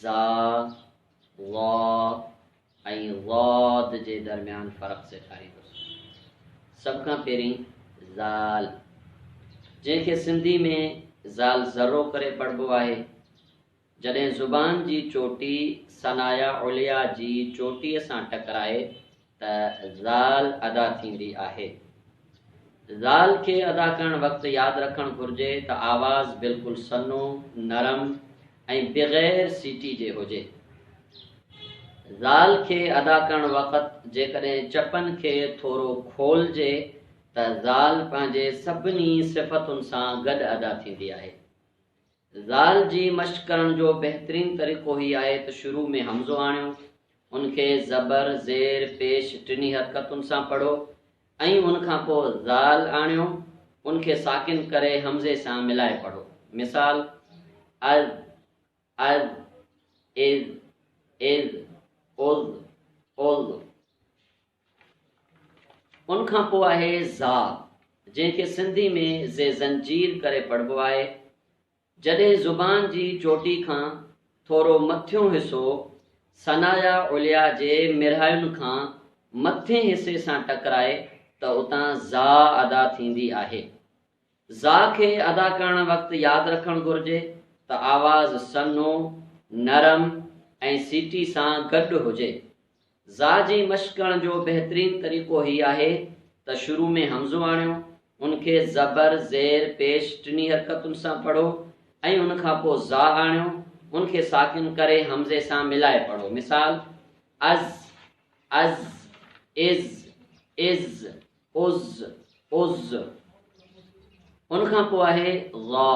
زا، وا ۽ ضاد جي درميان فرق سيکاريندس. سڀ کان پهرين زال، جنهن کي سنڌي ۾ زال ذرو ڪري پڙهبو آهي. جڏهن زبان جي چوٽي ثنايا عليا جي چوٽيء سان ٽڪرائي ته زال ادا ٿيندي آهي. زال کي ادا ڪرڻ وقت ياد رکڻ گهرجي ته آواز بلڪل سنو، نرم ۽ بغير سيٽي جي هجي. زال کي ادا ڪرڻ وقت جيڪڏهن چپن کي ٿورو کولجي ته زال پنهنجي سڀني صفتن سان گڏ ادا ٿيندي آهي. زال جي مشق ڪرڻ جو بهترين طريقو هي آهي ته شروع ۾ همزو آڻيو، ان کي زبر، زير، پيش ٽنهي حرڪتن سان پڙهو ۽ ان کان پوء زال آڻيو، ان کي ساڪن ڪري همزي سان ملائي پڙهو. مثال، اذ، اذ، اذ، اذ، اذ، اذ. ان کان پوء آهي زا، جنهن کي سنڌي ۾ زي زنجير ڪري پڙهبو آهي. جڏهن زبان جي چوٽي کان ٿورو مٿيون حصو ثنايا عليا جي مرهاين کان مٿين حصي سان ٽڪرائي ته اتان زا ادا ٿيندي آهي. زا کي ادا ڪرڻ وقت ياد رکڻ گهرجي ته آواز سنهو، نرم ۽ سيٽي سان گڏ هجي. زا جي مشق ڪرڻ جو بهترين طريقو هي آهي ته شروع ۾ همزو آڻيو، ان کي زبر، زير، پيش ٽنهي حرڪتن سان پڙهو ۽ ان کان پوء زا آڻيو، ان کي ساڪن ڪري همزي سان ملائي پڙهو. مثال، از، عز، عز، عز، عز عز ان کان پوء آهي ظا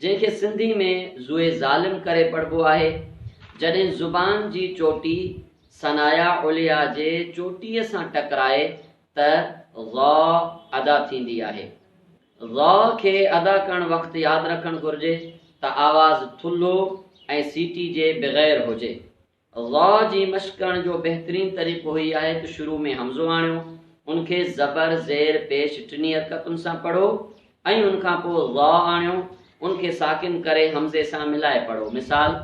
جنهن کي سنڌي ۾ ظوئي ظالم ڪري پڙهبو آهي جڏهن زبان جي چوٽي ثنايا عليا جي چوٽيء سان ٽڪرائي ته ظا ادا ٿيندي آهي ظا کي ادا ڪرڻ وقت ياد رکڻ گهرجي ته آواز ٿلهو ۽ سيٽي جي بغير هجي غا جي مشق ڪرڻ جو بهترين طريقو هي آهي ته شروع ۾ همزو آڻيو، ان کي زبر، زير، پيش ٽنهي حرڪتن سان پڙهو ۽ ان کان پوء غا آڻيو، ان کي ساڪن ڪري همزي سان ملائي پڙهو. مثال،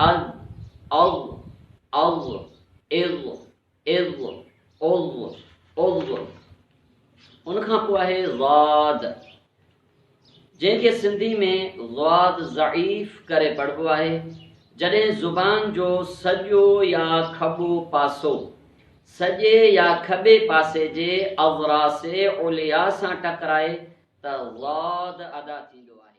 اذ، اغ، اغ، اغ، عض عض عض ان کان پوء آهي ضاد جنهن کي سنڌي ۾ ضاد ضعيف ڪري پڙهبو آهي جڏهن زبان جو سڄو يا کٻو پاسو سڄي يا کٻي پاسي جي اضراس عليا سان ٽڪرائي ته ضاد ادا ٿيندو آهي